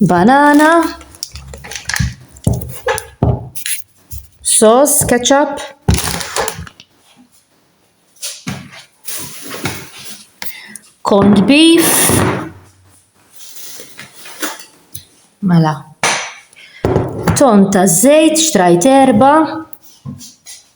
banana, sos, ketchup, corned beef, mela, ton ta' zejt, xtrajt erba,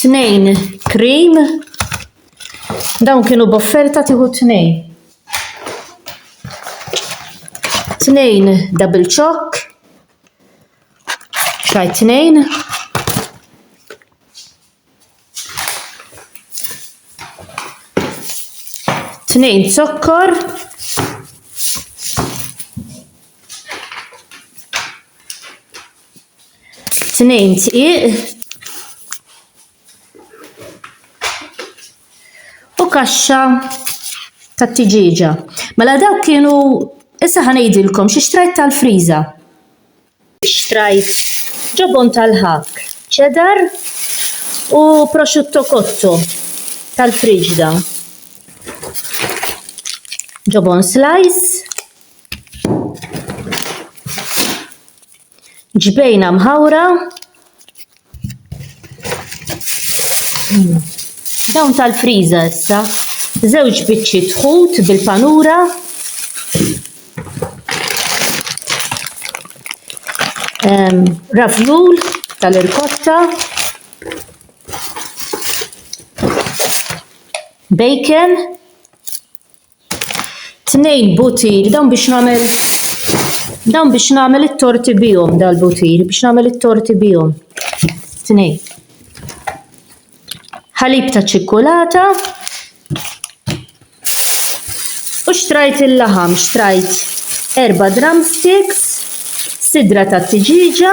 Tnejn cream. Dawn kienu b'offerta tieħu tnejn. Tnejn double choc. Xajt tnejn. Tnejn zokkor. Tnejn tqiq. U kaxxa ta' tiġiġa. Mela dawk kienu issa ħanejdilkom xi xtrajt tal-friża. Xtrajt ġobon tal-ħak, cheddar u prosciutto cotto tal-friġda. Ġobon slice. Ġbejna mħawra Dawn tal-friża issa, żewġ biċċi tħut bil-panura. Ehm, Ravjul tal-irkotta. Bacon. Tnejn butir, dawn biex nagħmel dawn biex nagħmel it-torti bihom dal-butir, biex nagħmel it-torti bihom. Tnejn. Ħalib ta' ċikkulata. U xtrajt il-laħam, xtrajt erba' drumsticks, sidra ta' tiġiġa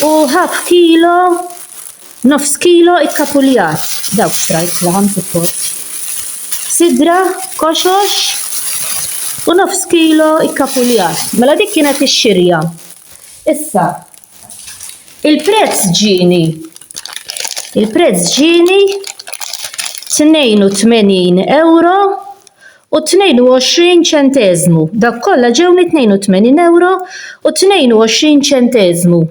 u half kilo Nofs kilo ikkapuljat, dawk xtrajt laħam fil-port. Sidra, koxox u nofs kilo ikkapuljat. Mela dik kienet ix-xirja. Issa, il-prezz ġieni. Il-prezz ġieni 82 euro u 22 ċenteżmu. Dak kollha ġewni 82 euro u 22 ċenteżmu.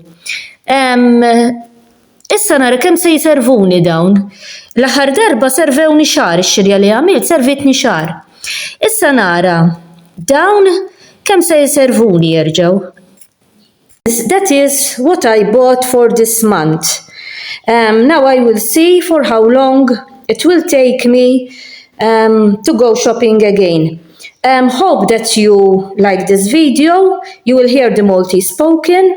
Issa nara kemm se jservuni dawn. L-aħħar darba servewni xahar, ix-xirja li għamilt servitni xahar. Issa nara dawn kemm se jservuni jerġgħu. That is what I bought for this month. Now I will see for how long it will take me to go shopping again. Hope that you like this video, you will hear the Maltese spoken.